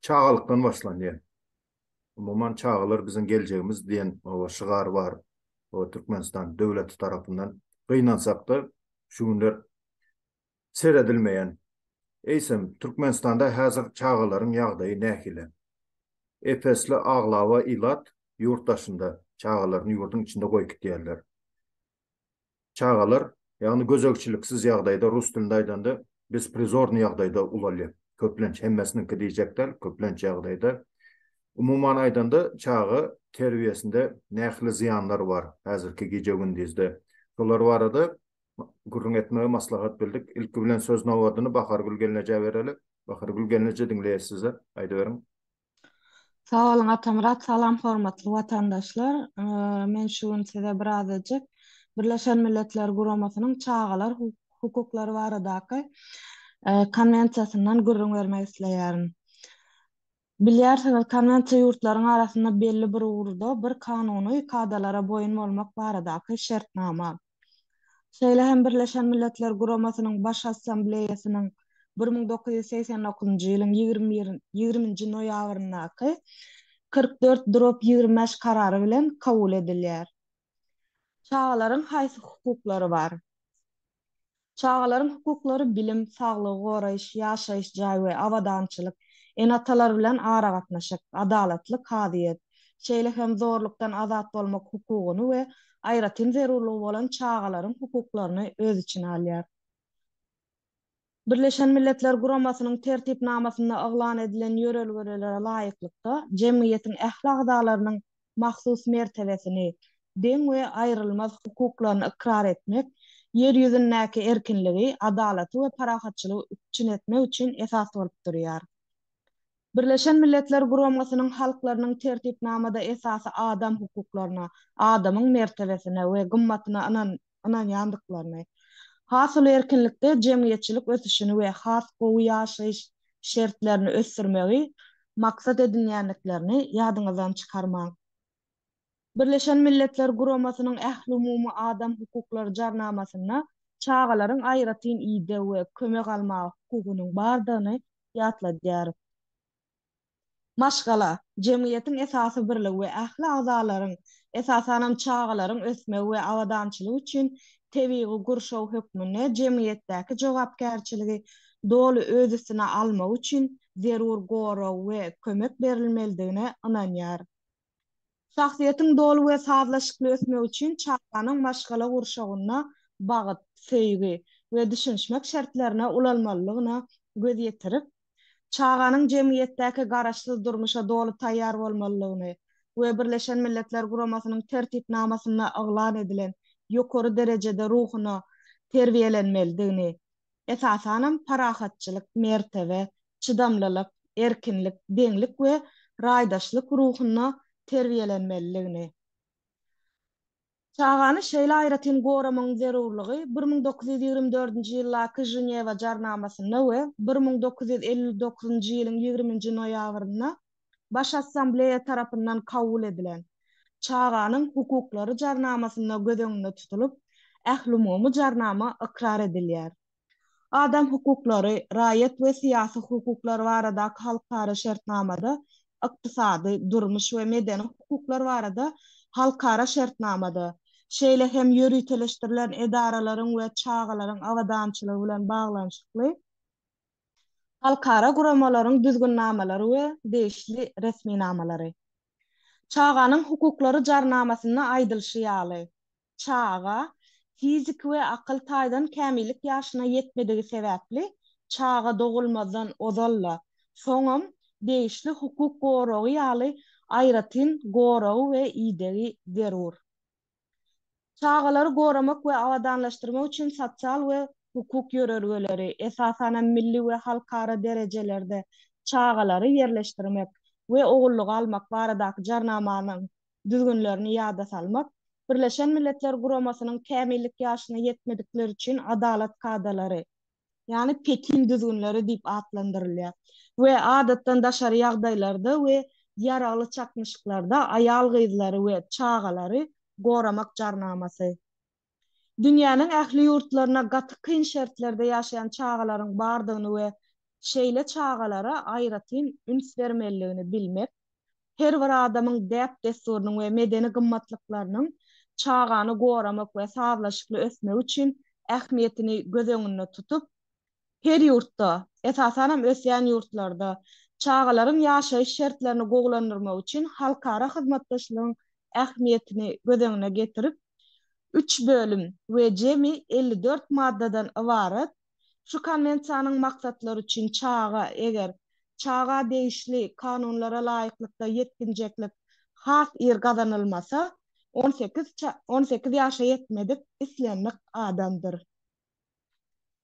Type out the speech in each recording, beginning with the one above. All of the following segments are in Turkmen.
Çagalykdan başlanýar. Umuman çagalar biziň geljegimiz diýen oba şygar bar. Oba Türkmenistan döwleti tarapyndan gynansakda şu günler seredilmeýän. Eýsem Türkmenistanda häzir çagalaryň ýagdaýy nähili? Ep-esli aglaba ilat ýurt daşynda, çagalaryny ýurduň içinde goýup gidýärler. Çagalar, ýagny gözegçiliksiz ýagdaýda, rus dilinde aýdanda, besprizornyý ýagdaýda ulalýar. Köplenç, hemmesiniňki diýjek däl, köplenç ýagdaýda. Umuman aýdanda, çaga terbiýesinde nähili zyýanlar bar häzirki gije-gündizde? Şolar barada gürrüň etmegi maslahat bildik. Ilki bilen söz nobadyny Bahargül gelnejä bereli. Bahargül gelneje, diňleýäs sizi. Aýdyberiň. Sag boluň Atamyrat salam hormatly watandaşlar men şu gün size bir azajyk Birleşen Milletler Guramasynyň çagalar hukuklary baradaky konwensiýasyndan gürrüň bermek isleýärin. Bilýärsiňiz konwensiýa ýurtlaryň arasynda belli bir ugurda bir kanuny kadalara boýun bolmak baradaky şertnama. Şeýle hem Birleşen Milletler Guramasynyň Baş Assambleýasynyň bir müň dokuz ýüz segsen dokuzynjy ýylyň ýigrimi nji noýabryndaky kyrk dört drop ýigrimi bäş karary bilen kabul edilýär. Çagalaryň haýsy hukuklary bar? Çagalaryň hukuklary bilim, saglygy goraýyş, ýaşaýyş jaý we abadançylyk, ene-atalar bilen aragatnaşyk, adalatly kazyýet, şeýle hem zorlukdan azat bolmak hukugyny we aýratyn zerurlygy bolan çagalaryň hukuklaryny öz içine alýar. Birleşen Milletler Guramasynyň Tertipnamasynda yglan edilen ýörelgelere laýyklykda, jemgyýetiň ähli agzalarynyň mahsus mertebesini, deň we aýrylmaz hukuklaryny ykrar etmek, Ýer ýüzündäki erkinligi, adalaty we parahatçylygy üpjün etmek üçin esas bolup durýar. Birleşen Milletler Guramasynyň halklarynyň Tertipnamada esasy adam hukuklaryna, adamyň mertebesine we gymmatyna ynanyp, ynanýandyklaryny, has uly erkinlikde jemgyýetçilik ösüşini we has gowy ýaşaýyş şertlerini ösdürmegi maksat edinýändiklerini ýadyňyzdan çykarmaň. Birleşen Milletler Guramasynyň Ählumumy adam hukuklary jarnamasynda çagalaryň aýratyn ideg we kömek almaga hukugynyň bardygyny ýatladýarys. Maşgala, jemgyýetiň esasy birligi we ähli agzalaryň, esasanam çagalaryň ösmegi we abadançylygy üçin tebigy gurşaw hökmünde jemgyýetdäki jogapkärçiligi doly öz üstüne almagy üçin zerur gorag we kömek berilmelidigine ynanýar. Şahsyýetiň doly we sazlaşykly ösmegi üçin çaganyň maşgala gurşawynda bagyt, söýgi we düşünişmek şertlerine ulalmalydygyna göz ýetirip, çaganyň jemgyýetdäki garaşsyz durmuşa doly taýýar bolmalydygyny we Birleşen Milletler Guramasynyň Tertipnamasynda yglan edilen ýokary derejede ruhuna terbiýelenmelidigini esasanam parahatçylyk, mertebe, çydamlylyk, erkinlik, deňlik we raýdaşlyk ruhunda terbiýelenmelidigini, çagany şeýle aýratyn goramagyň zerurlygy bir müň dokuz ýüz ýigrimi dördünji ýyldaky Ženewa jarnamasynda we bir müň dokuz ýüz elli dokuzynjy ýylyň ýigriminji noýabrynda Baş Assambleýa tarapyndan kabul edilen Çaganyň hukuklary Jarnamasynda göz öňünde tutulyp, Ählumumy Jarnama ykrar edilýär. Adam hukuklary, raýat we syýasy hukuklar baradaky halkara şertnamada, ykdysady, durmuş we medeni hukuklar barada halkara şertnamada, şeýle hem ýöriteleşdirilen edaralaryň we çagalaryň abadançylygy bilen baglanyşykly, halkara guramalaryň düzgünnamalary we degişli resminamalary. Çaganyň hukuklary jarnamasynda aýdylyşy ýaly, çaga fiziki we akyl taýdan kämillik ýaşyna ýetmedigi sebäpli çaga dogulmazdan ozal-da, soňam degişli hukuk goragy ýaly aýratyn goragy we idegi zerur. Çagalary goramak we abadanlaşdyrmak üçin sosial we hukuk ýörelgeleri, esasan hem milli we halkara derejelerde çagalary ýerleşdirmek we ogullyga almak baradaky Jarnamanyň düzgünlerini ýada salmak, Birleşen Milletler Guramasynyň Kämillik ýaşyna ýetmedikler üçin adalat kadalary, ýagny Pekin düzgünleri diýip atlandyrylýar we adatdan daşary ýagdaýlarda we ýaragly çaknyşyklarda aýal-gyzlary we çagalary goramak jarnamasy. Dünýäniň ähli ýurtlarynda gaty kyn şertlerde ýaşaýan çagalaryň bardygyny we şeýle çagalara aýratyn üns bermeliligini bilmek her bir adamyň däp-dessurynyň we medeni gymmatlyklarynyň çagany goramak we sazlaşykly ösmegi üçin ähmiýetini göz öňünde tutup, her ýurtda, esasanam ösýän ýurtlarda çagalaryň ýaşaýyş şertlerini gowulandyrmak üçin halkara hyzmatdaşlygyň ähmiýetini göz öňüne getirip, üç bölüm we jemi elli dört maddadan ybarat Şu Konwensiýanyň maksatlary üçin çaga, eger çaga degişli kanunlara laýyklykda ýetginjeklik has ir gazanylmasa, on sekiz on sekiz ýaşa ýetmedik islendik adamdyr.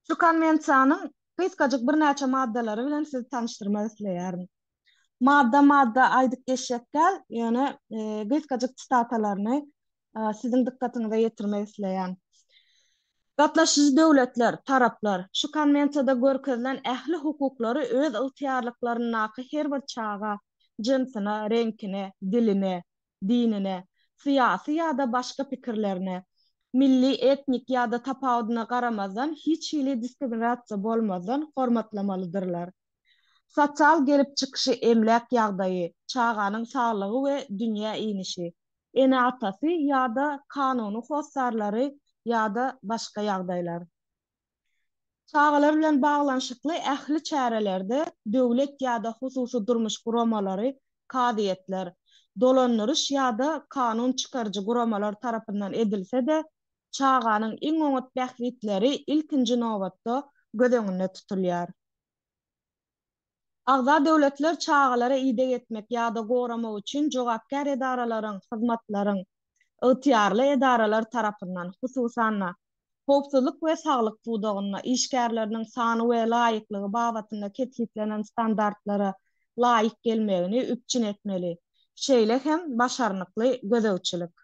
Şu Konwensiýanyň gysgajyk birnäçe maddalary bilen sizi tanyşdyrmak isleýärin. Madda-madda aýdyp geçjek däl, ýöne gysgajyk sitatalarny siziň dykgatyňyza ýetirmek isleýän. Gatnaşyjy döwletler, taraplar, şu Konwensiýada görkezilen ähli hukuklary öz ygtyýarlyklaryndaky her bir çaga, jynsyna, reňkine, diline, dinine, syýasy ýa-da başga pikirlerine, milli, etnik ýa-da tapawudyna garamazdan hiç hili diskriminasiýa bolmazdan hormatlamalydyrlar. Sosial gelip çykyşy, emläk ýagdaýy, çaganyň saglygy we dünýä inişi, Ene-atasy ýa-da kanuny hossarlary ýa-da başga ýagdaýlar. Çagalar bilen baglanyşykly ähli çärelerde döwlet ýa-da hususy durmuş guramalary, kazyýetler, dolandyryş ýa-da kanun çykaryjy guramalar tarapyndan edilse-de, çaganyň iň oňat bähbitleri ilkinji nobatda göz öňünde tutulýar. Agza döwletler çagalara ideg etmek ýa-da goramak üçin jogapkär edaralaryň, hyzmatlaryň, ygtyýarly edaralar tarapyndan, hususan-da, howpsuzlyk we saglyk pudagynda, işgärleriniň sany we laýyklygy babatynda kesgitlenen standartlara laýyk gelmegini üpjün etmeli, şeýle hem başarnykly gözegçilik.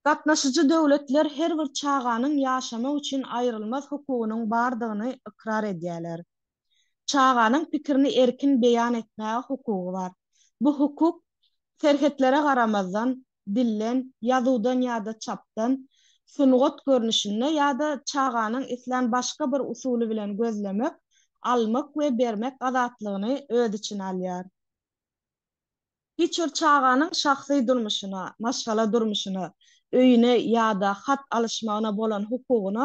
Gatnaşyjy döwletler her bir çaganyň ýaşamak üçin aýrylmaz hukugynyň bardygyny ykrar edýärler. Çaganyň pikirini erkin beýan etmäge hukugy bar. Bu hukuk, serhetlere garamazdan, dilden, ýazuwdan ýa-da çapdan, sungat görnüşinde ýa-da çaganyň islän başga bir usuly bilen gözlemek, almak we bermek azatlygyny öz içine alýar. Hiç bir çaganyň şahsy durmuşyna, maşgala durmuşyna, öýüne ýa-da hat alyşmagyna bolan hukugyna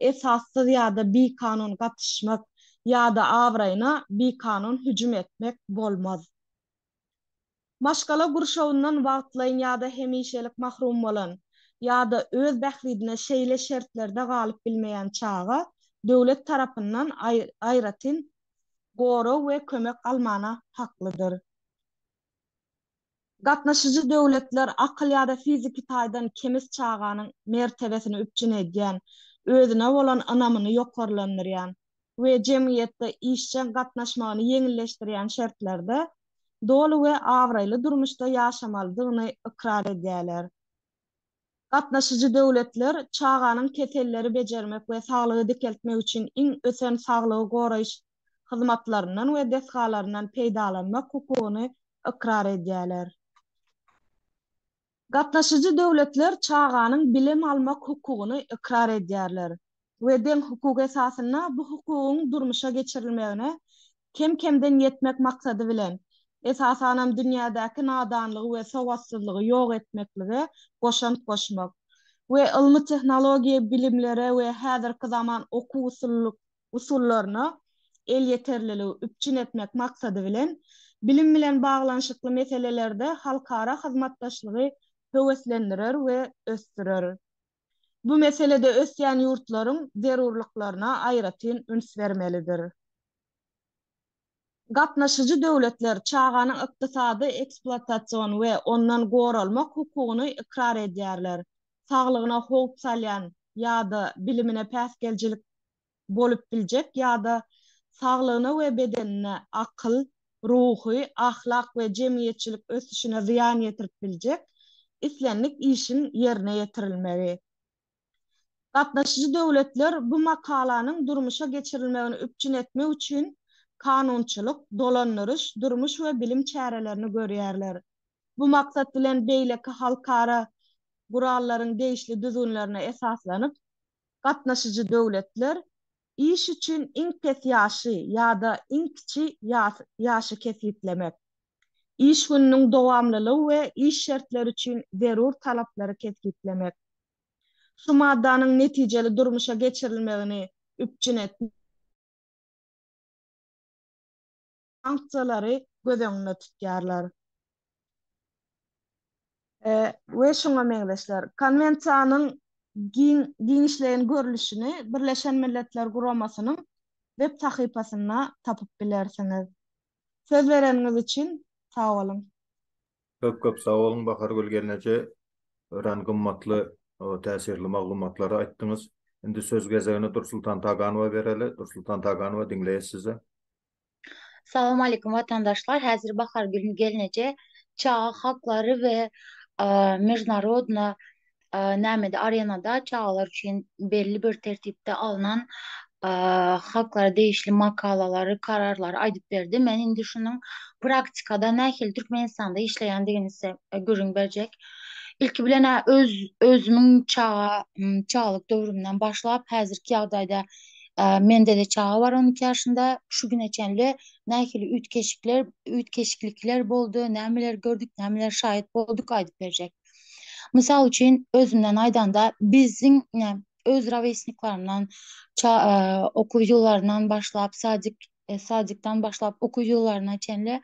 esassyz ýa-da bikanun gatyşmak ýa-da abraýyna bikanun hüjüm etmek bolmaz. Maşgala gurşawyndan wagtlaýyn ýa-da hemişelik mahrum bolan ýa-da öz bähbidine şeýle şertlerde galyp bilmeýän çaga döwlet tarapyndan aýratyn gorag we kömek almana haklydyr. Gatnaşyjy döwletler akyl ýa-da fiziki taýdan kemis çaganyň mertebesini üpjün edýän, özüne bolan ynamyny ýokarlandyrýan we jemgyýetde işjeň gatnaşmagyny ýeňilleşdirýän şertlerde doly we abraýly durmuşda ýaşamalydygyny ykrar edýärler. Gatnaşyjy döwletler çaganyň keselleri bejermek we saglygy dikeltmek üçin iň ösen saglygy goraýyş hyzmatlaryndan we desgalaryndan peýdalanmak hukugyny ykrar edýärler. Gatnaşyjy döwletler çaganyň bilim almak hukugyny ykrar edýärler. we deň hukuk esasynda bu hukugyň durmuşa geçirilmegine kem-kemden ýetmek maksady bilen, esasanam dünýädäki nadanlygy we sowatsyzlygy ýok etmeklige goşant goşmak we ylmy-tehnologiýa bilimlere we häzirki zaman okuw-usullyk usullaryna elýeterliligi üpjün etmek maksady bilen, bilim bilen baglanyşykly meselelerde halkara hyzmatdaşlygy höweslendirer we ösdürer. bu meselede ösýän ýurtlaryň zerurlyklaryna aýratyn üns bermelidir. Gatnaşyjy döwletler çaganyň ykdysady ekspluatasion we ondan goralmak hukugyny ykrar edýärler, saglygyna howp salýan ýa-da bilimine päsgelçilik bolup biljek ýa-da saglygyna we bedenine, akyl, ruhy, ahlak we jemgyýetçilik ösüşine zyýan ýetirip biljek islendik işiň ýerine ýetirilmegi. Gatnaşyjy döwletler bu makalanyň durmuşa geçirilmegini üpjün etmek üçin kanunçylyk, dolandyryş, durmuş we bilim çärelerini görýärler. Bu maksat bilen beýleki halkara gurallaryň degişli düzgünlerine esaslanyp, gatnaşyjy döwletler iş üçin iň pes ýaşy ýa-da iň kiçi ýaşy kesgitlemek, iş gününiň dowamlylygy we iş şertleri üçin zerur talaplary kesgitlemek, şu maddanyň netijeli durmuşa geçirilmegini üpjün etmek, sanksiýalary göz öňünde tutýarlar we şuňa meňzeşler. Konwensiýanyň giň giňişleýin görlüşini Birleşen Milletler Guramasynyň web sahypasynda tapyp bilersiňiz. Söz bereniňiz üçin sag boluň. Köp köp sag boluň Bahargül gelneje örän gymmatly täsirli maglumatlary aýtdyňyz. Indi söz gezegini Dursultan Taganowa bereli. Dursultan Taganowa diňleýäs sizi. Salam Aleýkum Watandaşlar Häzir Bahar Gülni Gelneje Çaga Haklary we Mejnarodna Nämede Arenada Çagalar Üçin Belli Bir Tertipde Alnan Haklara Degişli Makalalary Kararlary Aýdyp Berdi Men Indi Şunuň Praktikada Nähili Türkmenistanda Işleýändigini Size Gürrüň Berjek Ilki Bilen Öz Özümiň Çaga Çagalyk Döwrümden Başlap Häzirki Ýagdaýda Mendede çaga bar on iki ýaşynda. Şu güne çenli nähili üýtgeşikler, üýtgeşiklikler boldy, nämelere gördük, nämelere şaýat bolduk aýdyp berjek. Mysal üçin, özümden aýdanda, biziň öz rowesniklerimden, okuw ýyllaryndan başlap, sadik, sadikden başlap okuw ýyllaryna çenli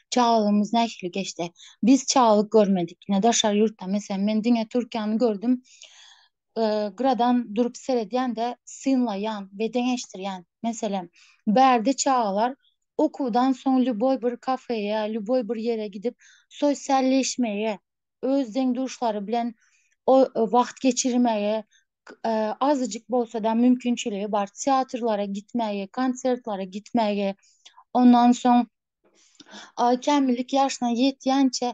çagalygymyz nähili geçdi? Biz çagalyk görmedik. Ine, daşary ýurtda, meselem, men diňe Türkiýäni gördüm. gyradan durup seredýän-de synlaýan we deňeşdirýän. Meselem, bärde çagalar okuwdan soň lýuboý bir kafeýe, lýuboý bir ýere gidip sosialleşmegi, öz deň-duşlary bilen wagt geçirmegi, azajyk bolsa-da mümkinçiligi bar teatrlara gitmegi, konsertlere gitmegi, ondan soň kämillik ýaşyna ýetýänçä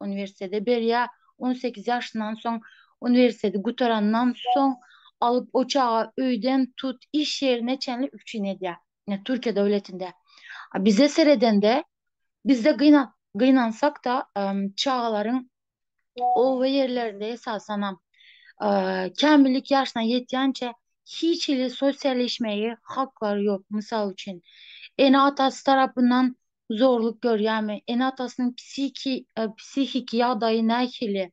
uniwersitete berýär. On sekiz ýaşyndan soň uniwersiteti gutarandan soň alyp o çaga öýden tut iş ýerine çenli üpjün edýär. Ine Türkiýe döwletinde. A bize seredende bizde gyna gynansak-da çagalaryň oba ýerlerinde esasanam kämillik ýaşyna ýetýänçä hiç hili sosialleşmegi haklary ýok. Mysal üçin ene-atasy tarapyndan zorluk görýärmi, ene-atasynyň psihiki psihiki ýagdaýy nähili,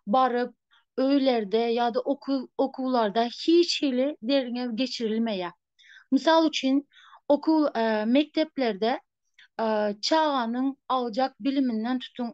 baryp, öýlerde ýa-da okuw okuwlarda hiç hili derňew geçirilmeýär. Mysal üçin, okuw mekdeplerde çaganyň aljak biliminden tutuň,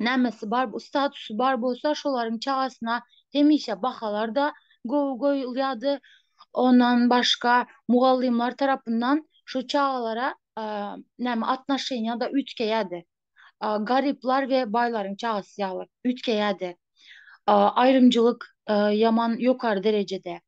nämesi bar, statusy bar bolsa, şolaryň çagasyna hemişe bahalar-da gowy goýulýardy. Ondan başga, mugallymlar tarapyndan şu çagalara näme atnoşeniýa-da üýtgeýärdi. Garyplar we baýlaryň çagasy ýaly üýtgeýärdi. Aýrymçylyk ýaman ýokary derejede.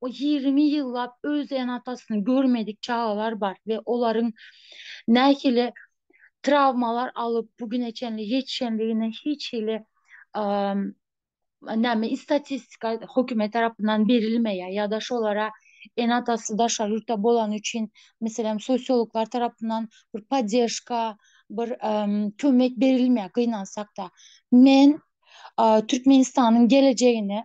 o ýigrimi ýyllap öz ene-atasyny görmedik çagalar bar we olaryň nähili trawmalar alyp bu güne çenli ýetişendigine hiç hili näme istatistika hökümet tarapyndan berilmeýär ýa-da şolara ene-atasy daşary ýurtda bolany üçin meselem sosiologlar tarapyndan bir podderžka bir kömek berilmeýär gynansak-da men Türkmenistanyň gelejegine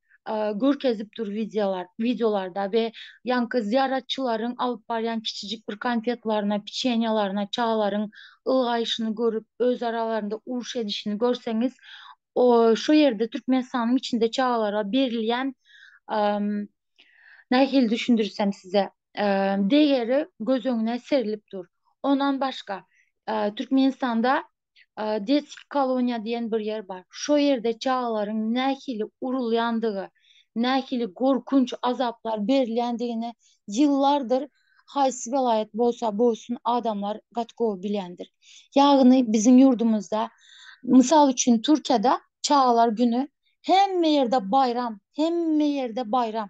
görkezip dur wideolar wideolarda we ýaňky zyýaratçylaryň alyp barýan kiçijik bir konfetlaryna piçenýalaryna çagalaryň ylgaýşyny görüp öz aralarynda uruş edişini görseňiz o şu ýerde türkmenistanyň içinde çagalara berilýän nähili düşündirsem size degeri göz öňüne serilip dur ondan başga türkmenistanda Detski koloniýa diýen bir ýer bar. Şo ýerde çagalaryň nähili urulýandygy, nähili gorkunç azaplar berilýändigini ýyllardyr haýsy welaýat bolsa bolsun adamlar gaty gowy bilýändir. Ýagny biziň ýurdumyzda, mysal üçin Türkiýede çagalar güni hemme ýerde baýram, hemme ýerde baýram.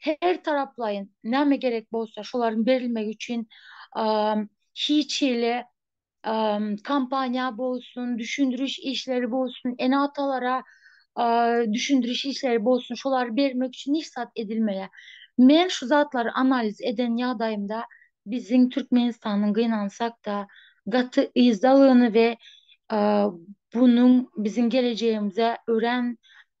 her taraplaýyn näme gerek bolsa şolaryň berilmegi üçin hiç hili kampaniýa bolsun, düşündiriş işleri bolsun, ene-atalara düşündiriş işleri bolsun, şolary bermek üçin hiç zat edilmeýär. Men şu zatlary analiz eden ýagdaýymda biziň Türkmenistanyň gynansak-da gaty yzdalygyny we bunuň biziň gelejegimize örän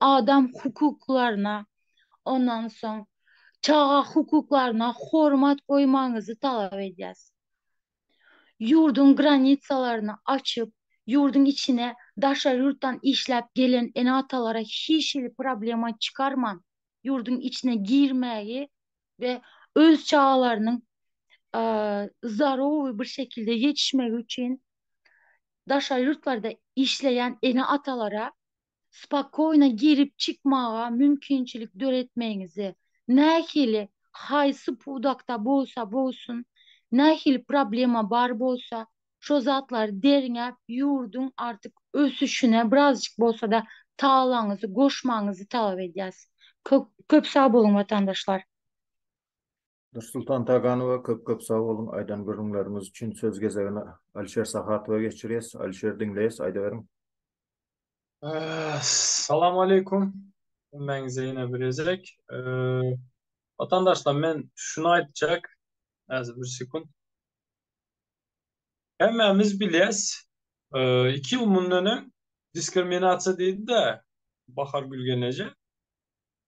adam hukuklaryna, ondan soň çaga hukuklaryna hormat goýmagyňyzy talap edýäs. Ýurduň granitsalaryny açyp, ýurduň içine daşary ýurtdan işläp gelen ene-atalara hiç hili problema çykarman, ýurduň içine girmägi we öz çagalarynyň zdarowy bir şekilde ýetişmegi üçin daşary ýurtlarda işleýän ene-atalara spakoýno girip-çykmaga mümkinçilik döretmegiňizde nähili, haýsy pudakda bolsa bolsun, nähili problema bar bolsa, şo zatlary derňäp, ýurduň artyk ösüşine birazjyk bolsa-da tagalaňyzy goşmagyňyzy talap edýäs. Köp sag boluň, watandaşlar! Nursultan Taganowa köp köp sag boluň aýdan gürrüňleriňiz üçin söz gezegini Alişer Sahatowa geçirýäs Alişer diňleýäs aýdyberiň. Salam aleykum hemmäňize ýene bir gezek Watandaşlar men şuny aýtjak häzir bir sekunt Hemmämiz bilýäs iki ýyl mundan öň diskriminasiýa diýdi-de Bahar Gülgeneje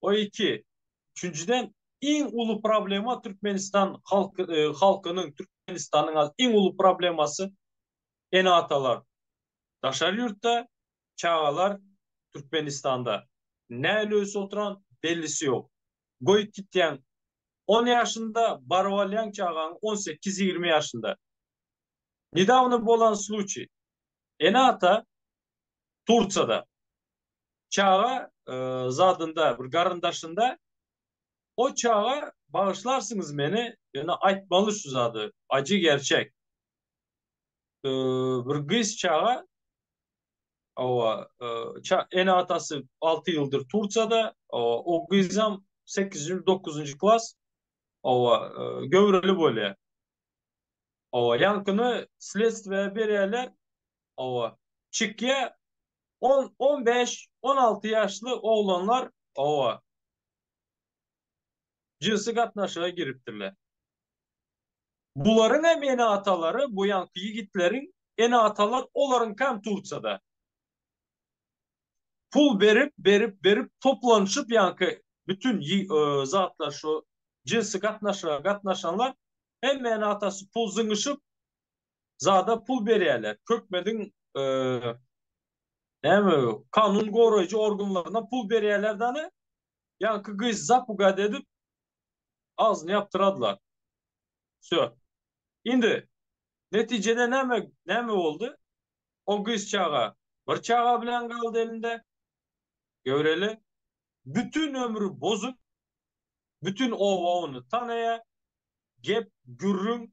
O iki. Üçünjiden iň uly problema Türkmenistan halky e, halkynyň Türkmenistanyň az iň uly problemasy ene atalar. Daşary ýurtda çagalar Türkmenistanda näle ösüp oturan bellisi ýok. Goýup gitýäň 10 ýaşynda baryp alýaň çagaň 18-20 ýaşynda. Nedawno bolan случай. Ene ata Tursiýada çaga zadynda bir garyndaşynda O çaga bagyşlarsyňyz meni ýöne aýtmaly şu zady ajy gerçek bir gyz çaga owa ene atasy alty ýyldyr Tursiýada o gyzam sekizinji dokuzynjy klas owa göwreli bolýar owa ýaňkyny sledstwä berýärler Hawa. Çykýa on on bäş on alty ýaşly oglanlar hawa. Jynsy gatnaşyga giripdirler. Bularyňam ene atalary bu ýanky ýigitleriň ene atalar olaryňkam turçada. Pul berip berip berip toplanyşyp ýanky bütün zatlar şu jynsy gatnaşyga gatnaşanlar hemme ene atasy pul zyňyşyp zada pul berýärler. Kökmeziň näme kanun goraýjy organlaryna pul berýärler dany. Ýaňky gyz zapugad edip agzyny ýapdyradylar. Wsö. Indi netijede näme näme boldy? O gyz çaga bir çaga bilen galdy elinde. Göreli. Bütin ömri bozuk. Bütin oba ony tanaýar. Gep gürrüň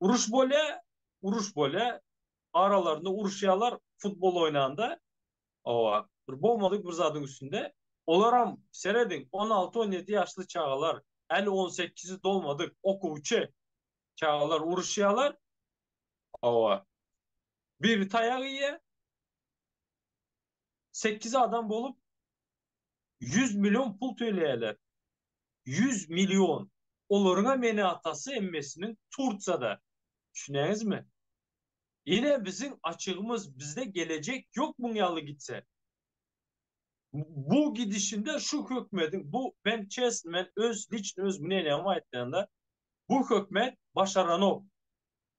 Uruş bolýa, uruş bolýa, aralarynda uruşýarlar futbol oýnanda, owa, bir bolmadyk bir zadyň üstünde, olaram serediň on alty on ýedi ýaşly çagalar, häli on sekizi dolmadyk okuwçy çagalar uruşýarlar, owa, biri taýak iýýä, sekiz adam bolup ýüz million pul töleýärler. Ýüz million. Olaryňam meni atasy emmesiniň Tursiýada. Düşünýäňizmi? Ine biziň açygymyz bizde gelejek ýok muň ýaly gitse. Bu gidişinde şu hökmediň bu men çesn men öz liçn özümi neneňem aýtmaýanda bu hökmet başaranok.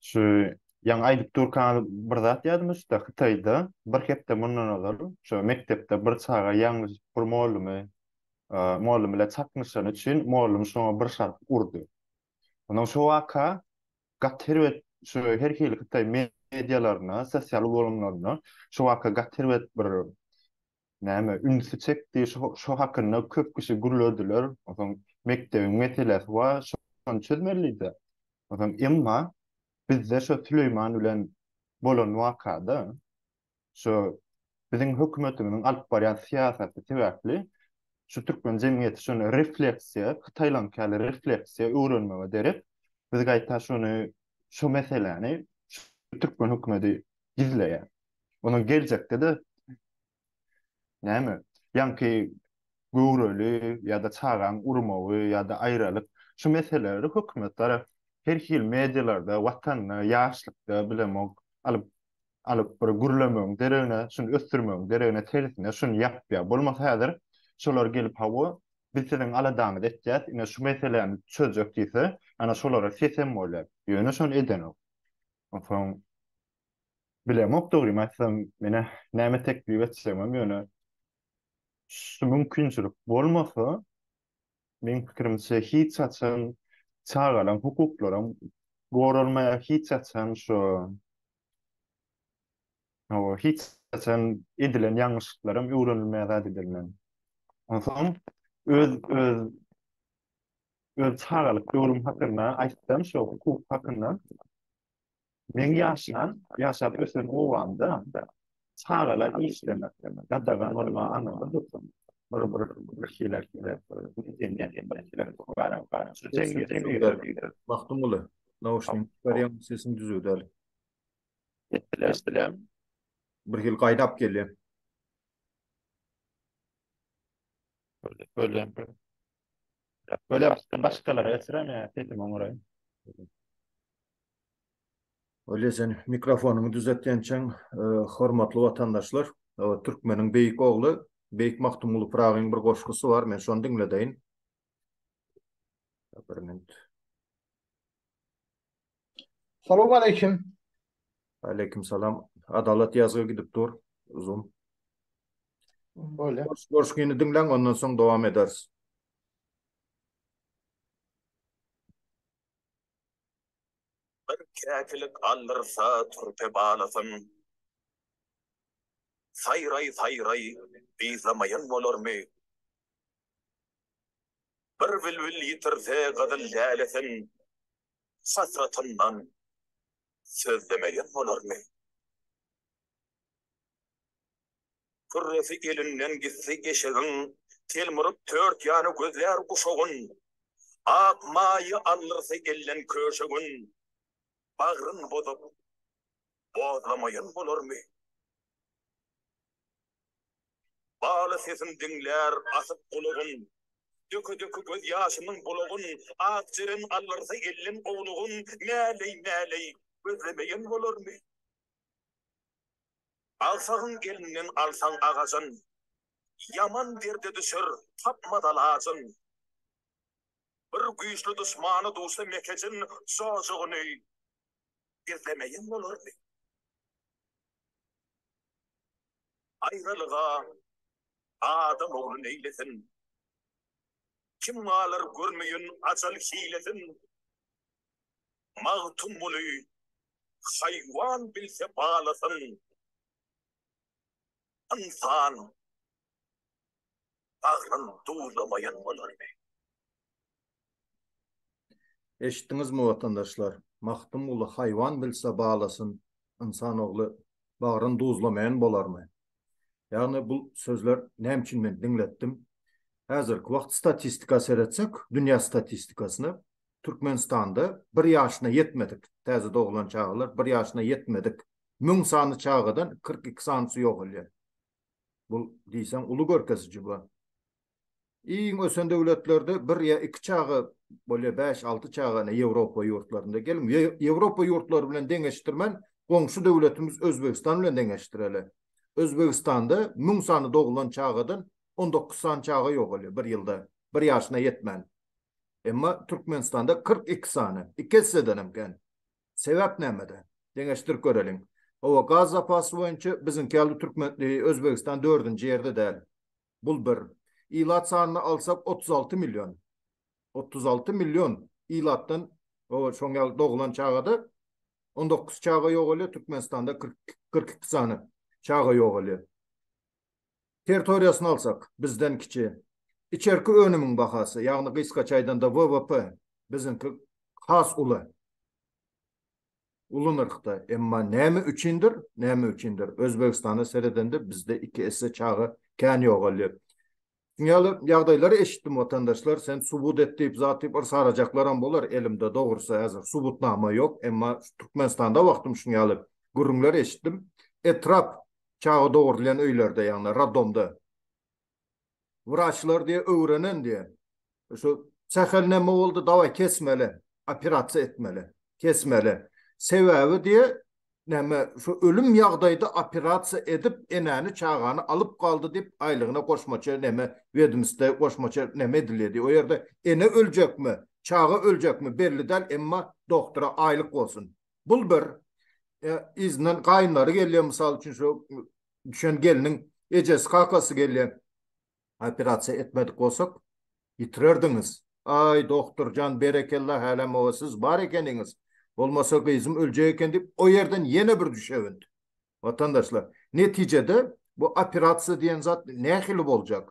Şu ýaňy aýdyp durkaňyz bir zat ýadyma düşdi. Hytaýda bir hepde mundan ozal şu mekdepde bir çaga ýalňyş bir mollümy, mollüm bilen çaknyşany üçin mollüm şoňa bir şarp urdy. Ondan şu waka gaty herbet şu her hili hytaý medialaryna, sosial ulgamlaryna şu waka gaty herbet bir näme, ünsi çekdi, şo-şo hakynda köp kişi gürlediler, onsoň mekdebiň meselesi bar, şo-şony çözmelidä. Onsoň emma bizde şo Süleýman bilen bolan waka-da, şo biziň hökümetimiziň alyp barýan syýasaty sebäpli şu türkmen jemgyýeti şony refleksiýa, hytaýlaňky ýaly refleksiýa öwrenmege derek, biz gaýta şony, şo meseläni şu türkmen hökümeti gizleýär. Onuň geljekde-de näme? Ýaňky göwreli ýa-da çagaň urmagy ýa-da aýralyk şu meseleleri hökümet tarap her hili medialarda, watanda, ýaşlykda bilemok alyp alyp bir gürlemegiň deregine, şuny ösdürmegiň deregine tersine şuny ýapýar. Bolmasa häzir şolar gelip hawa, biz siziň aladaňyzy etýäs, ine şu meseläni çözjek diýse, ana şolara sesem bolýar. Ýöne şony edenok. Onsoň Bilemok dogrymy aýtsam, menä näme teklip etjegimem ýöne şu mümkinçilik bolmasa, meň pikirimçe hiç haçan çagalaň hukuklaram goralmaýar, hiç haçan şu hawa, hiç haçan edilen ýalňyşlyklaram öwrenilmeýär zat edilmän. Onsoň öz öz öz çagalyk döwrüm hakynda aýtsam, şu hukuk hakynda Men ýaşlan, ýaşap ösen obamda çagalar işlemek gadagan bolmagy aňyrda dursun, bir bir birkiler gelip, diňleýän birkiler barýar, barýar. Şu jemgyýetiň liderleri. Magtymguly, nauşnigiňi çykarýaň, sesiň düzüw däl. Eşdilýär, eşdilýär. Birhili gaýnap gelýär. Şöyle, şöyle. Böyle başkalara esirem ya, sesim oňuray. Olýa sen mikrofonyňy düzet ençem hormatly watandaşlar türkmeniň beýik ogly beýik Magtymguly Pyragyň bir goşgusy bar men şony diňledeýin. Bir minut. Salam aleýkim. Aleýkim salam. Adalat ýazgy gidip dur. Uzun. Bolýar. Goşgyny diňläň ondan soň dowam ederis. Bir käkilik aldyrsa turpe balasyn. Saýraý saýraý yzlamaýan bolarmy. Bir bilbil ýitirse gyzyl lälesin. Hasratyndan sözlemeýän bolarmy. Pürresi elinden gitdi eşegiň, Telmuryp tört ýany gözlär guşagyn. Ak maýy aldyrsy elden köşegün, Bagryn bozup, bozlamaýan bolarmy? Baly sesim diňlär asyp gulagyn, Döke-döke göz ýaşymyň bulagyn, Ak jeren aldyrsy elden owlugyn, Mäleý-mäleý gözlemeýän bolarmy? Agsagyň elinden alsaň agajyn. Ýaman derde düşer, tapmaz alajyn. Bir güýçli duşmany duşsa mekejin jojugyny gizlemeýin bolarmy? Aýralyga adam ogly neýlesin? Kim galar görmeýin ajal hilesin? Magtymguly, Haýwan bilse balasyn, ynsan bagryn duzlamaýan bolarmy? Eşitdiňizmi, watandaşlar? Magtymguly, Haýwan bilse balasyn, ynsan ogly bagryn duzlamaýan bolarmy? Ýagny bu sözler näme üçin men diňletdim? Häzirki wagt statistika seretsek, dünýä statistikasyna, Türkmenistanda bir ýaşyna ýetmedik, täze doglan çagalar bir ýaşyna ýetmedik müň sany çagadan kyrk iki sanysy ýogalýar. Bu diýseň uly görkeziji bu. Iň ösen döwletlerde bir ýa iki çaga bolýar, bäş, alty çaga, ine Ýewropa ýurtlarynda. Geliň, Ýewropa ýurtlary bilen deňeşdirmän, goňşy döwletimiz Özbegistan bilen deňeşdireli. Özbegistanda müň sany doglan çagadan on dokuz sany çaga ýogalýar bir ýylda, bir ýaşyna ýetmän. Emma Türkmenistanda 42 sany, iki esseden hem kän. Sebäp nämede? Deňeşdirip göreliň. Hawa, gaz zapasy boýunça biziňki ýaly Türkmen, e, Özbegistan dördünji ýerde däl. Bul bir. Ilat sanyny alsak, 36 million. 36 million ilatdan, o, şoň ýaly dogulan çagada on dokuz çaga ýogalýar, Türkmenistanda kyrk, kyrk iki sany çaga ýogalýar. territoriýasyny alsak, bizden kiçi. Içerki önümiň bahasy, ýagny gysgaça aýdanda WWP, biziňki has uly. Uly nyrhda. Emma näme üçindir, näme üçindir, Özbegistana seredende bizde iki esse çaga kän ýogalýar. Şuň ýaly ýagdaýlary eşitdim watandaşlar sen subut et diýip zat diýip yrs arajaklaram bolar elimde dogrusy häzir subutnama ýok emma Türkmenistanda wagtym şuň ýaly gürrüňler eşitdim etrap çaga dogurylýan öýlerde ýagny radomda wraçlar diýe öwrenen diýe Şu sähel näme boldy, daway kesmeli, operasiýa etmeli, kesmeli. Sebäbi diýe, näme, şu ölüm ýagdaýda operasiýa edip, enäni, çagany alyp galdy diýip, aýlygyna goşmaça näme, wedmstda goşmaça näme edilýär diýip, o ýerde ene öljekmi, çaga öljekmi belli däl, emma dogtora aýlyk bolsun. Bul bir. Yzyndan gaýynlary gelýär, mysal üçin, şu düşen gelniň ejesi, kakasy gelýär. Operasiýa etmedik bolsak ýitirerdiňiz. Aý dogturjan berekella hälä moa siz bar ekeniňiz bolmasa gyzym öljek eken diýip o ýerden ýene bir düşewünt. Watandaşlar netijede bu operasiýa diýen zat nähili boljak?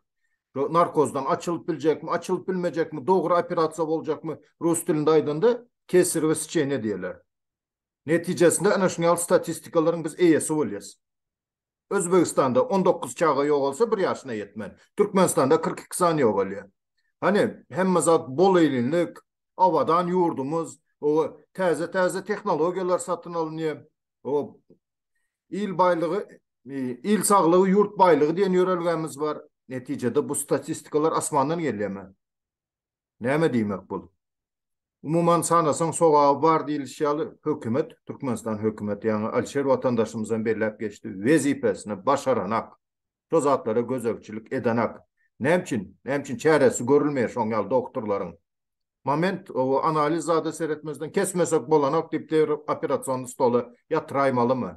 Şu narkozdan açylyp biljekmi açylyp bilmejekmi dogry operasiýa boljakmy rus dilinde aýdanda kesirwe sçeniýa diýerler. Netijesinde ana şuňal statistikalaryň biz eýesi bolýas. Özbegistanda on dokuz çaga ýogalsa bir ýaşyna ýetmän, Türkmenistanda kyrk iki sany ýogalýar. Hany, hemme zat bol-eýlinlik, abadan ýurdumyz, oba, täze-täze tehnologiýalar satyn alynýar, oba, il baýlygy, il saglygy, ýurt baýlygy diýen ýörelgämiz bar. Netijede bu statistikalar asmandan gelýärmi? Näme diýmek bul? Umuman sanasaň sogaby bar diýilişi ýaly hökümet, Türkmenistan hökümeti ýaňy Alişer watandaşymyzam belläp geçdi, wezipesini başaranak, şo zatlara gözegçilik edenak. Näme üçin? Näme üçin çäresi görülmeýär şoň ýaly dogturlaryň? Moment o analiz zada seretmezden kesmesek bolanok diýip deri operasionny stola ýatyraýmalymy?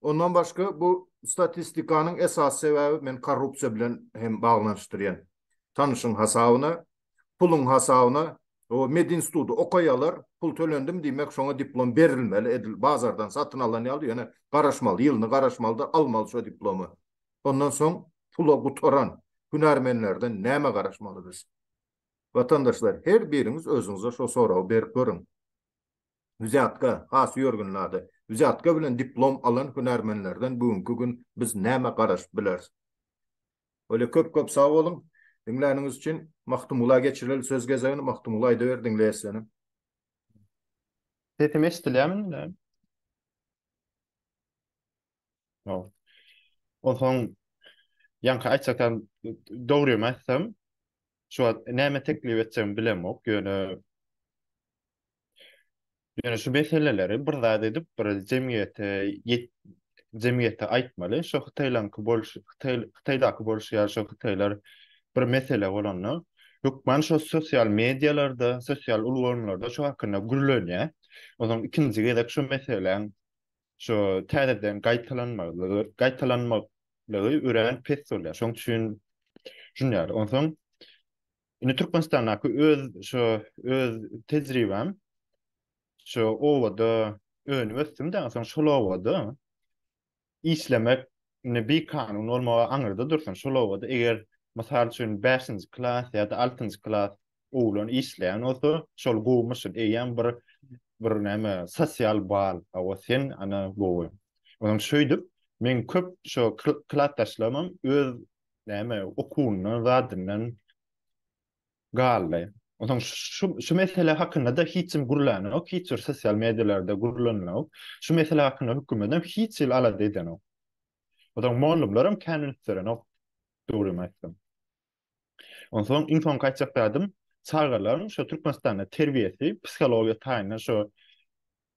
Ondan başga bu statistikanyň esasy sebäbi men korrupsiýa bilen hem baglanyşdyrýan. Tanyşyň hasabyna, puluň hasabyna, o medinstudy okaýalar, pul tölendim diýmek şoňa diplom berilmeli edil bazardan satyn alan ýaly ýöne garaşmaly ýylyny garaşmalydyr almaly şo diplomy. Ondan soň pula gutaran hünärmenlerden näme garaşmaly biz. Watandaşlar her biriňiz özüňize şo soragy berip görüň. Wzýatka, has ýörgün zady, wzýatka bilen diplom alan hünärmenlerden bu günki gün biz näme garaşyp bileris? Bolýa köp köp sag boluň diňläniňiz üçin. Magtymgula geçireli söz gezegini Magtymgula aýdaber diňleýäs seni. Sesim eşdilýärmi indi? Ol. Onsoň ýaňky aýtjak zat dogrymy aýtsam, şu wagt näme teklip etjegimi bilemok, ýöne ýöne şu meseleleri bir zat edip, bir jemgyýete ýet jemgyýete aýtmaly. Şu hytaýlaňky bolşy, hytaý hytaýdaky bolşy ýaly şu hytaýlar bir mesele bolanda, hökman şu sosial medialarda, sosial ulgamlarda şu hakynda gürlenýär. Onsoň ikinji gezek şu meseläň şu täzeden gaýtalanmagy, gaýtalanmaklygy örän pes bolýar. Şoň üçin düşünýär. Onsoň indi Türkmenistandaky öz şu öz tejribäm şu obada önüp ösdüm-de, onsoň şol obada işlemek indi bir kanun bolmagy aňyrda dursun, şol obada eger, mysal üçin, bäşinji klas ýa-da altynjy klas oglan işleýän bolsa, şol gowumy şul, eýýäm bir bir näme, sosial bal, hawa, sen, ana, gowy. Onsoň şeýdip, meň köp şo klasdaşlarymam öz, näme, okuwyndan, zadyndan galdy. Onsoň şu şu mesele hakynda-da hiç kim gürlänok, hiç bir sosial medialarda gürlenilok. Şu mesele hakynda hökümet hem hiç hili alada edenok. Onsoň mollumlar hem kän ünslenenok, dogrymy aýtsam. Onsoň iň soňky aýtjak zadym, çagalaryň şu Türkmenistanda terbiýesi, psihologiýa taýyndan şu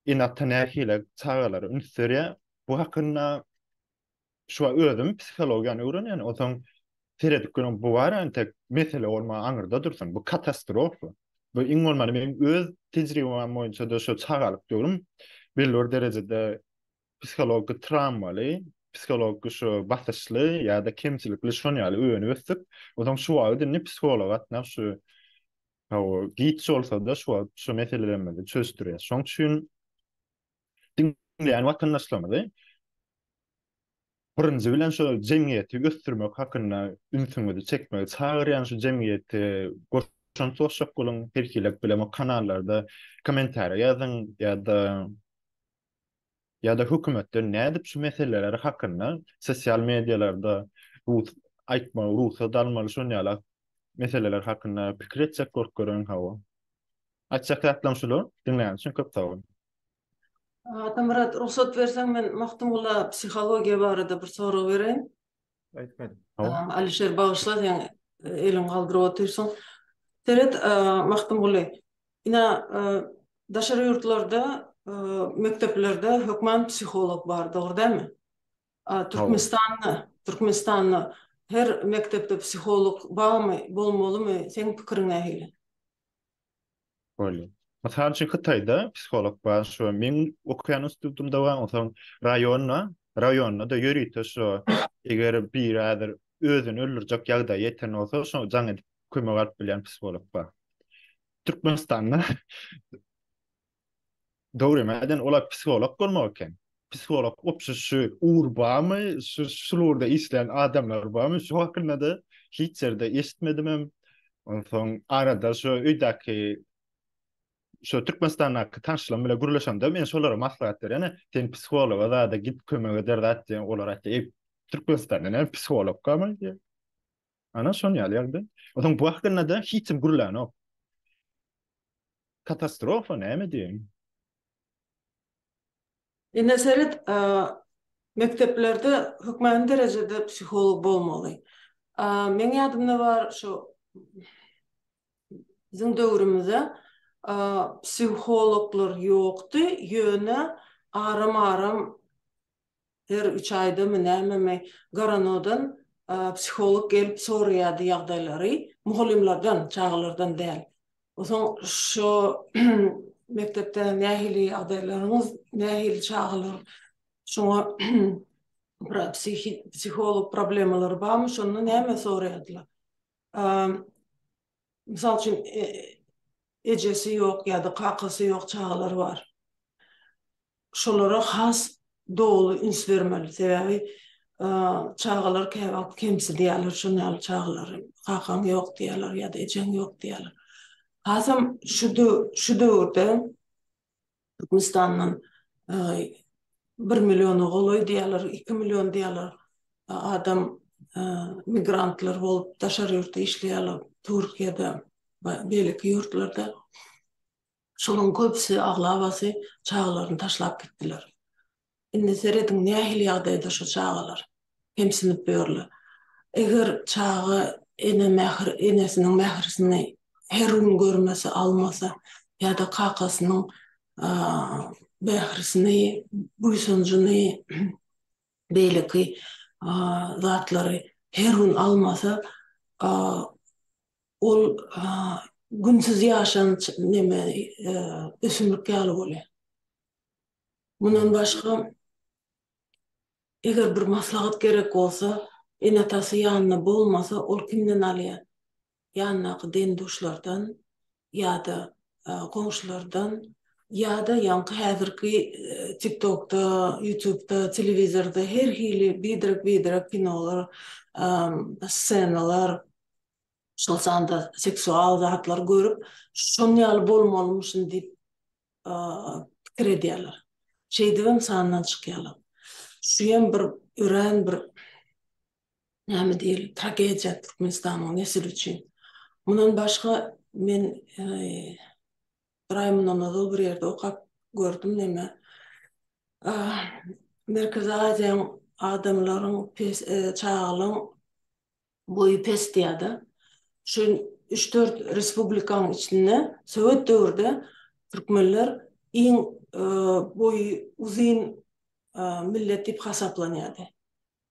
ene-ata nähili çagalara üns berýär, bu hakynda Şu wagt özüm psihologiýany öwrenýän, onsoň seredip görüň, bu bar entek mesele bolmagy aňyrda dursun, bu katastrofa. Bu iň bolmanda meniň öz tejribäm boýunça-da şu çagalyk döwrüm belli bir derejede psihologik trawmaly, psihologik şu basyşly ýa-da kemçilikli şon ýaly öýenip ösdük. Onsoň şu wagt indi psihologa gatnap şu hawa giç bolsa-da şu wagt şu meselelerimizi çözüşdirýäs. Şoň üçin diňleýän watandaşlarymyzy birinji bilen şu jemgyýeti ösdürmek hakynda ünsüňizi çekmegi çagyrýan şu jemgyýeti goşant goşjak boluň her hili bilemek kanallarda kommentariýa ýazyň ýa-da ýa-da hökümetden nädip şu meseleler hakynda sosial medialarda rus aýtmagy rugsat almaly şonýalak meseleler hakynda pikir etjek bolup görüň hawa. Aýtjak zatlaryň şular. Diňläniň üçin köp sag boluň. Atamyrat rugsat berseň men Magtymgula psihologiýa barada bir sorag bereýin. Aýtmady. Alişer bagyşla seň eliň galdyryp otyrsyň. Seret Magtymguly ina daşary ýurtlarda mekdeplerde hökman psiholog bar dogry dälmi? Türkmenistanda Türkmenistanda her mekdepde psiholog barmy bolmalymy seň pikiriň nähili? Bolýar. Mysal üçin, Hytaýda psiholog bar, şu meň okaýan institutymda bar, onsoň raýonda, raýonda-da ýörite şu eger biri häzir özüni öldürjek ýagdaýa ýeten bolsa, şo jaň edip kömek alyp bilýän psiholog bar. Türkmenistanda Dogry näden olar psiholog bolmak eken? Psiholog opşy şu ur bamy şu şulurda işleýän adamlar bamy şu hakyndada hiç ýerde eşitmedimem onsoň arada şu öýdäki şu Türkmenistandaky tanşlarym bilen gürleşemde men şolara maslahat berýän sen psihologa zada git kömek eder zat diýen olar aýtdy Türkmenistanda näme psiholog bamy diýýär. Ana şon ýaly ýagdaý. Onuň bu hakynda-da hiç kim gürlänok. Katastrofa näme diýeýin. Ine seret, mekdeplerde hökmany derejede psiholog bolmaly. Meň ýadymda bar şu biziň döwrümizde psihologlar ýokdy, ýöne aram-aram Her üç aýdamy, nämemi, Goranodan psiholog gelip soraýardy ýagdaýlary, mugallymlardan, çagalardan däl. Soň şo mekdepde nähili ýagdaýlaryňyz, nähili çagalar, şoňa psiholog problemalary barmy, şonda näme soraýardylar. Mysal üçin, ejesi ýok ýa-da kakasy ýok çagalary bar. Şolara has doly üns bermeli. Sebäbi çagalar käwagt kemsidýärler şon ýaly çagalary. Kakaň ýok diýýärler ýa-da ejeň ýok diýýärler. Hasam şu döwürde Türkmenistandan bir milliona golaý diýýärler, iki million diýýärler adam migrantlar bolup daşary ýurtda işleýärler, Türkiýede we beýleki ýurtlarda. Şolaryň köpüsi, aglabasy çagalaryny taşlap gitdiler. Indi serediň nähili ýagdaýda şu çagalar kemsinip ýörler. Eger çaga ene mähir enesiniň mährisini her gün görmese almasa ýa-da kakasynyň mährisini buýsanjyny beýleki zatlary her gün almasa ol günsiz ýaşan neme ösümlik ýaly bolýar. Mundan başga, eger bir maslahat gerek bolsa, ene-atasy ýanynda bolmasa, ol kimden alýar? Ýanyndaky deň-duşlardan ýa-da goňşulardan ýa-da ýaňky häzirki TikTokda, Ýutubda, telewizorda her hili biderek-biderek kinolar, ssenalar, şol sanda seksual zatlar görüp, şonuň ýaly bolmalymyşyn diýip pikir edýärler. Şeýdibem sandan çykýarlar. Şuýam bir örän bir näme diýeli tragediýa Türkmenistanyň nesli üçin. Mundan başga men bir aý mundan ozal bir ýerde okap gördüm näme Merkezi Aziýanyň adamlaryň çagalaryň Boýy pesdi ýa-da şu üç-dört respublikanyň içinde sowet döwürde türkmenler iň boýy uzyn millet diýip hasaplanýardy.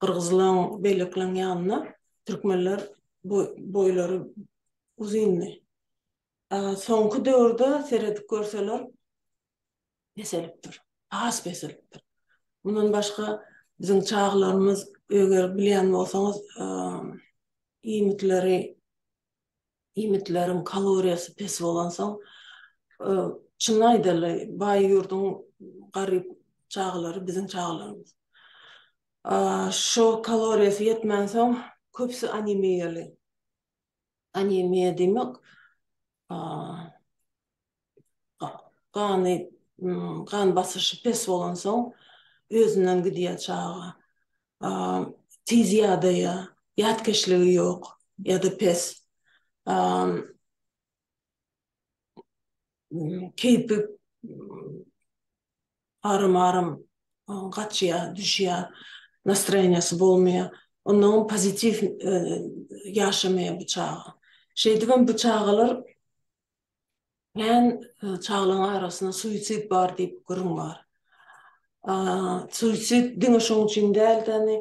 Gyrgyzlaň, beýlekileň ýanynda türkmenler boýlary uzyndy. Soňky döwürde seredip görseler peselipdir, has peselipdir. Mundan başga, biziň çaglarymyz, eger bilýän bolsaňyz, iýmitleri, iýmitleriň kaloriýasy pes bolansoň, çynyny aýdaly, baý ýurduň garyp çagalary biziň çagalarymyz. Şo kaloriýasy ýetmänsoň, köpüsi anemiýaly. Anemiýa diýmek, gany, gan basyşy pes bolansoň özünden gidýär çaga. Tiz ýadaýar, ýatkeşligi ýok ýa-da pes. Keýpi aram-aram gaçýar, düşýär, nastroýeniýesi bolmaýar. Onnoň pozitiw ýaşamaýar bu çaga. Şeýdibem bu çagalar Kän çagalaň arasynda suisid bar diýip gürrüň bar. Suisid diňe şoň üçin däldi, indi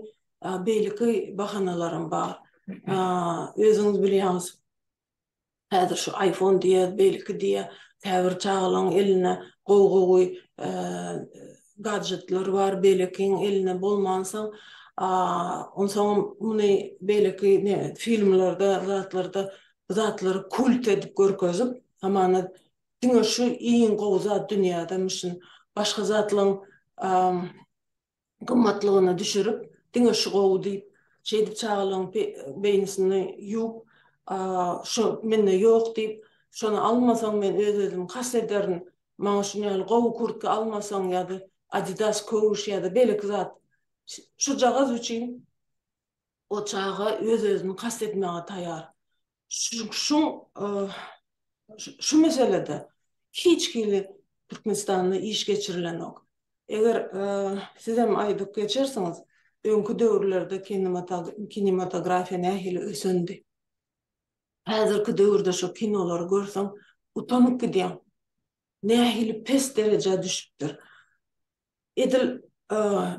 beýleki bahanalaram bar. Özüňiz bilýäňiz, häzir şu iPhone diýýär, beýleki diýýär, käbir çagalaň elinde gowy-gowy gadjetler bar, beýlekiň elinde bolmansoň, onsoňam muny beýleki filmlerde, zatlarda bu zatlary kult edip görkezip hamana diňe şu iň gowy zat dünýäde müşin başga zatlaň gymmatlygyny düşürip diňe şu gowy diýip şeýdip çagalaň beýnisini ýuwup şu mende ýok diýip şony almasaň men öz özümi has ederin maňa şuny ýaly gowy kurtka almasaň ýa-da adidas köwüş ýa-da beýleki zat şujagaz üçin O çaga öz-özüni kast etmäge taýar. Şuň şu meselede hiç hili Türkmenistanda iş geçirilenok. Eger sizem aýdyp geçersiňiz, öňki döwürlerde kinematografiýa nähili ösendi. Häzirki döwürde şu kinolary görseň, utanyp gidýäň. Nähili pes derejä düşüpdir. Edil,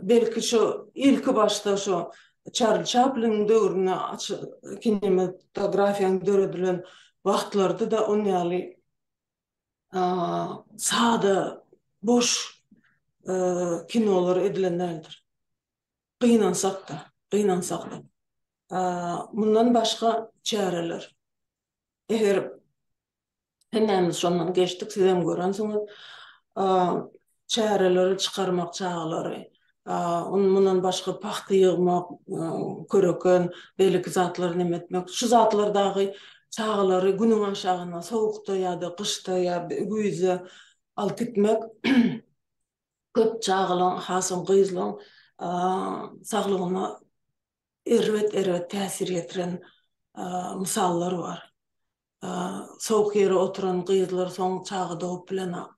belki, şo ilki başda şo Çarli Çapliniň döwründe kinematografiýanyň döredilen wagtlardy-da ol ýaly sada, boş kinolar edilen däldir. Gynansak-da, gynansak-da. Mundan başga çäreler, eger Hemmämiz şondan geçdik, sizem görensiňiz. Çäreleri çykarmak çagalary, mundan başga pagta ýygmak, köreken, beýleki zatlary neme etmek, şu zatlar dagy çagalary günüň aşagyna sowukda ýa-da gyşda ýa güýzde alyp gitmek köp çagalaryň, has hem gyzlaryň saglygyna erbet-erbet täsir ýetiren mysallar bar. Sowuk ýere oturan gyzlar soň çaga dogap bilenok.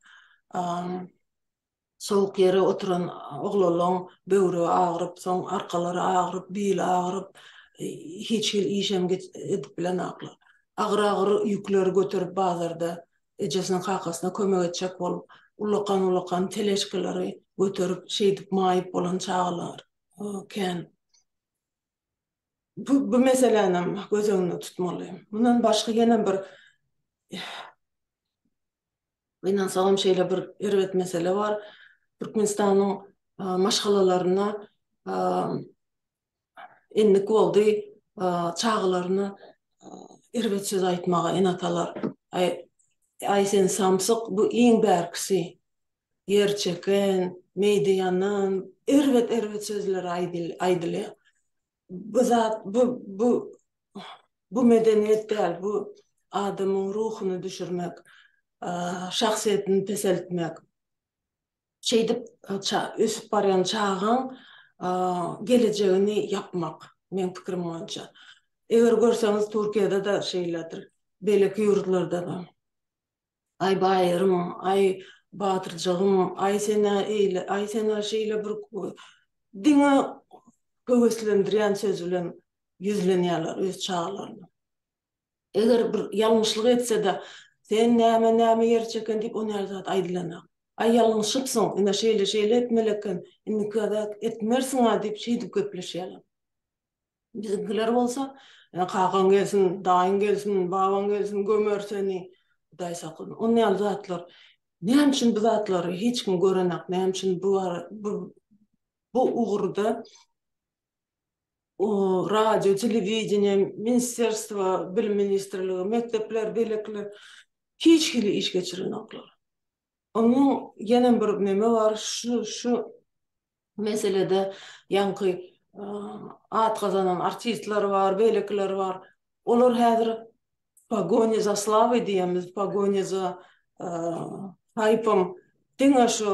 Sowuk ýere oturan oglanlaň böwregi agyryp, soň arkalary agyryp, bili agyryp, hiç hili işem edip bilenoklar. Agyr-agyr ýükleri göterip bazarda ejesine-kakasyna kömek etjek bolup, ullakan-ullakan teležkaleri göterip, şeýdip maýyp bolan çagalar. Oken. Bu, bu meseläni hem göz öňünde tutmaly. Mundan başga ýene bir Gynansaňam şeýle bir erbet mesele bar. Türkmenistanyň maşgalalaryna endik boldy çagalaryna erbet söz aýtmaga ene-atalar. Aý, aý sen samsyk, bu iň bärkisi. ýerçeken, meýde ýanan, erbet-erbet sözler aýdylýar. Bu zat, bu, bu, bu medeniýet däl, bu adamyň ruhuny düşürmek, şahsyýetini peseltmek. Şeýdip, ösüp barýan çagaň gelejegini ýapmak, meň pikirim boýunça. Eger görseňiz, Türkiýede-de şeýledir, beýleki ýurtlarda-da. Aý Baýyrym, aý Batyrjagym, aý sen-ä eýle, aý sen-ä şeýle bir diňe höweslendirýän söz bilen ýüzlenýärler öz çagalaryna. Eger bir ýalňyşlyk etse-de, Sen näme, näme ýer çeken diýip o näl zat aýdylanok. Aý ýalňyşypsyň, ine şeýle-şeýle etmeli eken, indiki gezek etmersiň-ä diýip şeýdip gepleşýärler. Biziňkiler bolsa, Ýa kakaň gelsin, daýyň gelsin, babaň gelsin, gömer seni, Hudaý saklasun. Ony ýaly zatlar. Näme üçin bu zatlary hiç kim görenok, näme üçin bu bu bu ugurda radio, telewideniýe, ministrerstwo, bilim ministrligi, mekdepler, beýlekiler hiç hili iş geçirenoklar. Onuň ýene bir neme bar, şu şu meselede ýaňky at gazanan artistler bar, beýlekiler bar. Olar häzir w pogoni za slawoi diýýämiz, w pogoni za haýpom diňe şu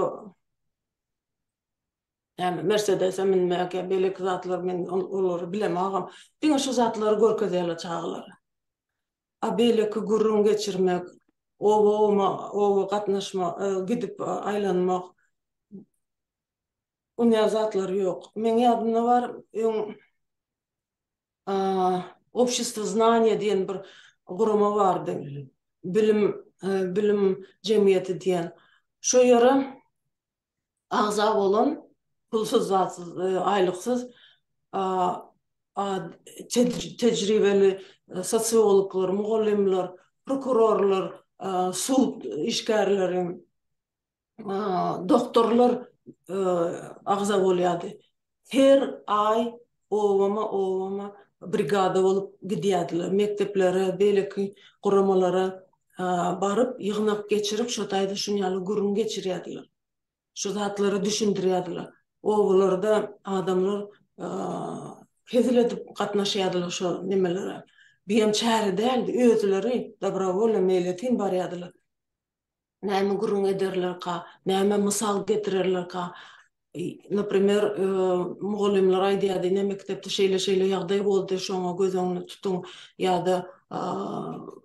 näme mersedese münmek ýa beýleki zatlar men olary bilemagam, diňe şu zatlary görkezýärler çagalara. a beýleki gürrüň geçirmek, oba-oma, oba gatnaşma, gidip aýlanmak, onyýaly zatlar ýok. Meň ýadymda bar, öň Obşestvo znaniýa diýen bir gurama bardy, bilim, bilim jemgyýeti diýen. Şo ýere agza bolan pulsuz zatsyz aýlyksyz tejribeli sosiologlar, mugallymlar, prokurorlar, sud işgärleri, doktorlar agza bolýardy. Her aý obama-obama brigada bolup gidýärdiler. Mekdeplere, beýleki guramalara baryp, ýygnak geçirip, şo taýda şuny ýaly gürrüň geçirýärdiler. Şu zatlary düşündirýärdiler. Obalarda adamlar hezil edip gatnaşýardylar şo nemelere. Biem çäre däldi. Özleri, dobrovolýa, meýletin barýardylar. Näme gürrüň ederlerka, näme mysal getirerlerka? Naprimer, mugallymlar aýdýardy, ine mekdepde şeýle-şeýle ýagdaý boldy, şoňa göz öňüne tutuň. Ýa-da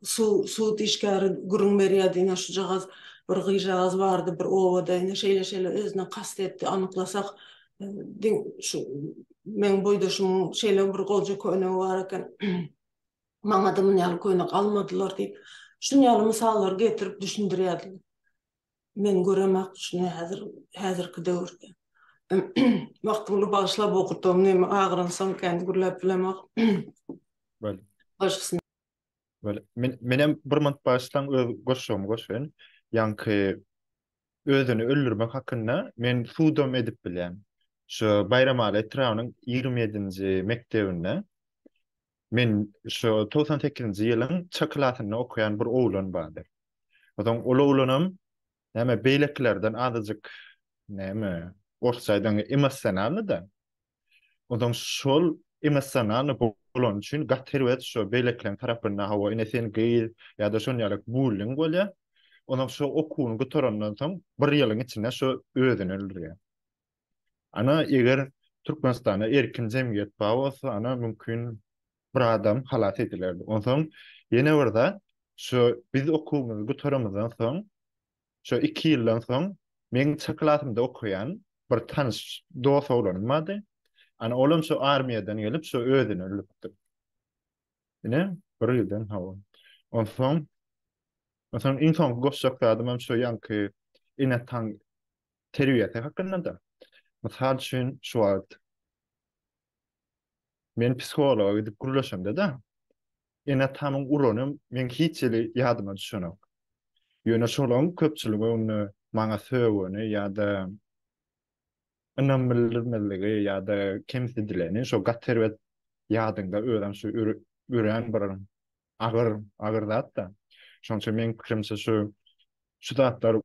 sud işgäri gürrüň berýärdi, ine şujagaz bir gyzjagaz bardy bir obada, ine şeýle-şeýle özüne kast etdi, anyklasak, meň boýdaşymyň şeýle bir goja könegi bar eken. Maňa-da muny ýaly köne galmadylar diýip, şuny ýaly mysallary getirip düşündirýärdi. Men göremak şuny häzir, häzirki döwürde. Wagtyňdy bagyşlap okudym, näme agyransoň kän gürläp bilemok. Bale. Başgysyn. Bale. Men, menem bir minut bagyşlaň öz goşgymy goşaýyn. Ýaňky özüni öldürmek hakynda men sudam edip bilýän. Şu Baýramaly etrabynyň ýigrimi ýedinji mekdebinde Men şu togsan sekizinji ýylyň çy klasynda okaýan bir oglan bardy. Onsoň ol oglanam näme beýlekilerden azajyk näme orsça aýdaňda emossionalnyda. Onsoň şol emossionalny bolany üçin gaty erbet şu beýlekileriň tarapynda hawa ine sen gyz ýa-da şon ýaly bulling bolýar. Onsoň şu okuwyny gutarandan soň bir ýylyň içinde şu özüni öldürýär. Ana eger Türkmenistanda erkin jemgyýet bar bolsa ana mümkin bir adam halas edilerdi. Onsoň ýene bir zat şu biz okuwymyzy gutarymyzdan soň şu iki ýyldan soň meň çy klasymda okaýan bir tanyş dos oglanym bardy. Ana olam şu armiýadan gelip şu özüni öldüripdi. Ine bir ýyldan hawa. Onsoň onsoň iň soňky goşjak zadymam şu ýaňky ene taň terbiýesi hakynda-da. Mysal üçin, şu wagt men psihologa gidip gürleşemde-de, ene-atamyň urany meň hiç hili ýadyma düşenok. Ýöne şolaryň köpçülik öňünde maňa sögeni ýa-da ynam bildirmezligi ýa-da kemsidileni, şo gaty erbet ýadyňda özem şu örän bir agyr, agyr zat-da. Şonuň üçin meniň pikirimçe şu, şu zatlar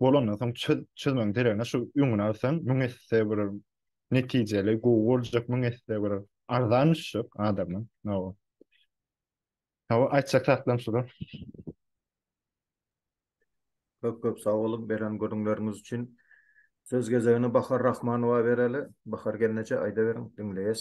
bolandan soň çöz, çözmegiň deregine şu öňüni alsaň müň esse bir netijeli, gowy boljak, müň esse bir arzan düşjek adama. Hawa. Hawa, aýtjak zatlarym şular. Köp köp sag boluň beren gürrüňleriňiz üçin. Söz gezegini Bahar Rahmanowa bereli. Bahar gelneje aýdaweriň, diňleýäs.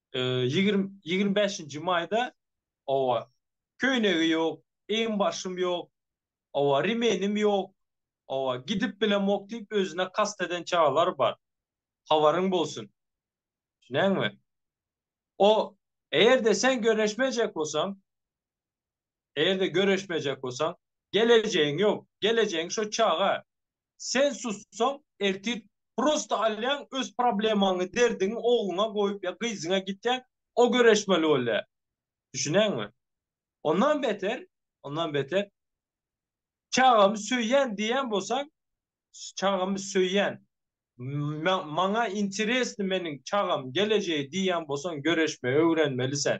Ýigrimi bäşinji maýda, oba, köýnegi ýok, eginbaşym ýok, oba, remenim ýok, oba, gidip bilemok diýip özüne kast eden çagalar bar. Habaryň bolsun. Düşünýäňmi? O, eger-de sen göreşmejek bolsaň, eger-de göreşmejek bolsaň, gelejegiň ýok, gelejegiň şo çaga, Sen sussaň ertir prosta alýaň öz problemaňy derdiňi ogluňa goýup ýa gyzyňa gitýäň o göreşmeli bolýa. Düşüneňmi? Ondan beter ondan beter çagamy söýýän diýýän bolsaň çagamy söýýän maňa interesni meniň çagam gelejegi diýýän bolsaň göreşmegi öwrenmeli sen.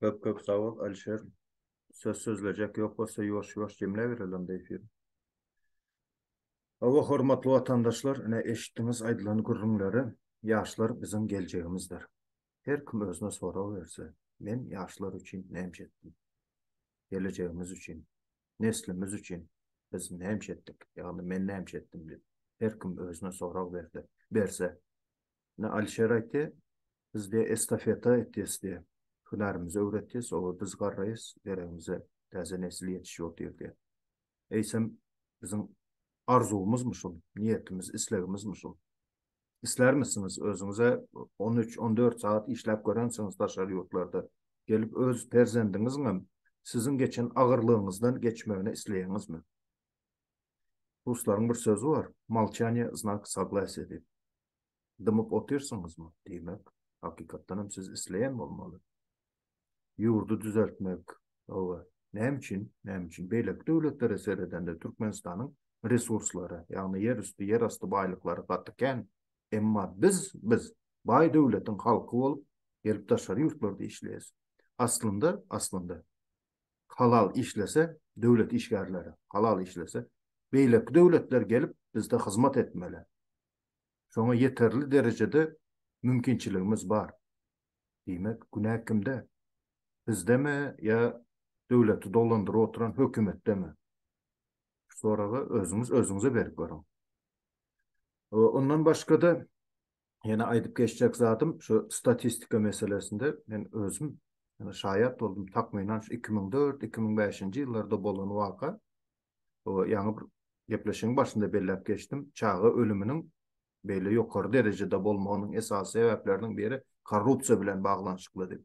Köp köp sag bol Alişer. Söz sözlejek ýok bolsa ýuwaş ýuwaş jemläbereli onda efiri. Hawa hormatly watandaşlar ine eşitdiňiz aýdylan gürrüňleri ýaşlar biziň geljegimizdir. Her kim özüne sorag berse men ýaşlar üçin nämce etdim. Gelejegimiz üçin. Neslimiz üçin biz nämce etdik ýagny men nämce etdim diýip her kim özüne sorag berdi berse Ine Alişer aýtdy, Biz diýe estafeta etýäs diýe. Hünärimizi öwretýäs, oba biz garraýas, deregimize täze nesil ýetişýär diýe diýe. Eýsem biziň arzuwymyzmy şul, niýetimiz, islegimizmi şul? Islärmisiňiz özüňize on üç, on dört sagat işläp görensiňiz daşary ýurtlarda, gelip öz perzendiňiziňem siziň geçen agyrlygyňyzdan geçmegini isleýäňizmi? Ruslaryň bir sözi bar, Molçaniýe znak saglasiýa diýip. Dymyp otyrsyňyzmy? Diýmek, hakykatdan hem siz isleýän bolmaly. Ýurdy düzeltmek, hawa, näme üçin, näme üçin beýleki döwletlere seredende Türkmenistanyň resurslary, ýagny ýer üsti, ýer asty baýlyklary gaty kän, emma biz, biz baý döwletiň halky bolup gelip daşary ýurtlarda işleýäs. Aslynda, aslynda halal işlese döwlet işgärleri halal işlese beýleki döwletler gelip bizde hyzmat etmeli. Şoňa ýeterli derejede mümkinçiligimiz bar. Diýmek günä kimde? Bizdemi ýa döwleti dolandyryp oturan hökümetdemi? Şu soragy özüňiz özüňize berip görüň. Ondan başgada Ýene aýdyp geçjek zadym şu statistika meselesinde men özüm ýa şaýat boldum takmynan şu 2004-2005-nji ýyllarda bolan waka. O ýaňy bir gepleşigiň başynda belläp geçdim. Çaga ölüminiň beýle ýokary derejede bolmagynyň esasy sebäpleriniň biri korrupsiýa bilen baglanyşykly diýip.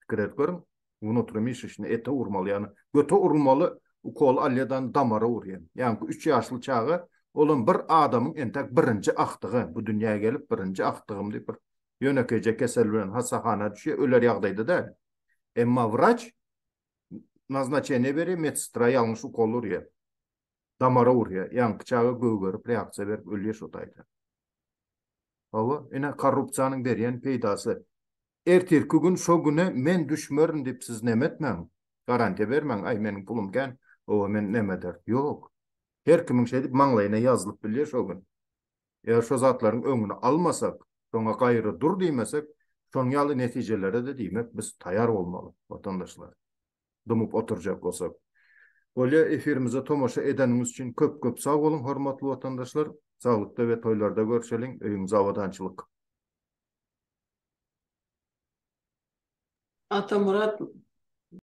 Pikir edip görüň, wnutrimišişni ete urmaly, ýagny göte urulmaly ukol alýadan damara urýan. Ýaňky üç ýaşly çaga, olam bir adamyň entäk birinji agtygy, bu dünýä gelip birinji agtygym diýip bir ýönekeýje kesel bilen hassahana düşýär, öler ýagdaýda däl. Emma wraç naznaçeniýe berýär, medsestra ýalňyş ukol urýar. Damara urýa, ýaňky çaga gögerip reaksiýa berip ölýä şo taýda. Hawa, ine korrupsiýanyň berýän peýdasy. Ertirki gün şo güne men düşmerin diýip siz neme etmäň, garantiýa bermäň, aý meniň pulum kän, oba men neme eder. Ýok. Her kimiň şeýdip maňlaýyna ýazylyp bilýä şo gün. Eger şo zatlaryň öňüni almasak, şoňa gaýry dur diýmesek, şoň ýaly netijelere-de diýmek biz taýar bolmaly, watandaşlar. dymyp oturjak bolsak. Bolýa efirimize tomaşa edeniňiz üçin köp köp sag boluň hormatly watandaşlar, saglykda we toýlarda görşeliň, öýüňize abadançylyk. Atamyrat.